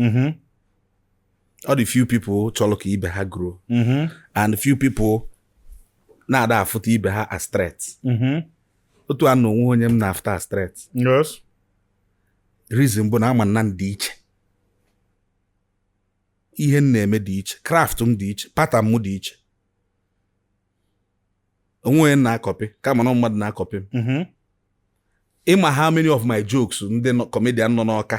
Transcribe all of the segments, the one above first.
mm-hmm. ọ dị few people chọrọ ka ibe ha grow mm-hmm. and few people na-ada afụta ibe ha as threat mm-hmm. otu a m nọ o nwe onye m na-afụta as threat reason bụ na ama m na m dị iche ihe m na-eme dị iche craft m dị iche pattern m dị iche o nwe onye m na-akọpị kama na mmadụ na-akọpị m ị ma how many of my jokes ndị comedian nọ n'Ọka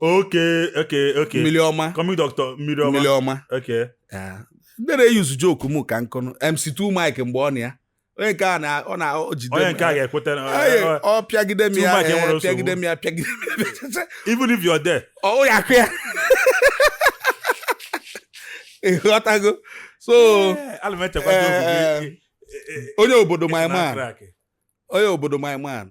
Okay, okay, okay. Mmiri ọma. Coming doctor, mmiri ọma. Mmiri ọma. Okay. Yeah. Ndị na-eyuzu joke m ka nkụnụ MC2 Mike mgbe ọ na ya. Onye nke a na ọ na o jide Onye nke a ga-ekweta na ọ pịagide m ya eh, pịagide m ya pịagide m ya. Even if you're there. Ọ ya-akụ ya. Ị ghọtago. So eh, eh, onye obodo my man. Onye obodo my man.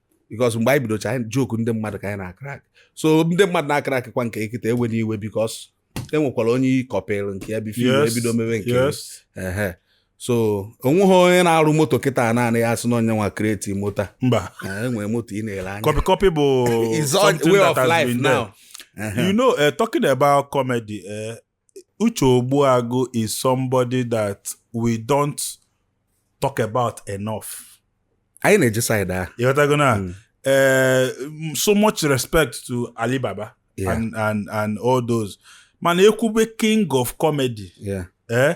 because mgbe anyị bidocha anyị joke ndị mmadụ ka anyị na-akrak so ndị mmadụ na-akrak kwa nke i kịta ewena iwe because e nwekwara onye ị kọpịrị nke ya before Yes, i bido mebe nke ya. yes Ehe. so o nweghị onye na-arụ moto kịta naanị ya sị na ọ ya nwa create moto mba Eh, e nwere moto ị na-ele anya copy copy bụ It's all something way that of has life been there. now. Ehe. you know uh, talking about comedy uh, Uche Ogbuagu is somebody that we don't talk about enough. anyị na-eje saịdị ahụ You gotta go now. Mm. Uh, so much respect to Alibaba Yeah. and, and, and all those. Man, ekwube king of comedy. Yeah. Eh?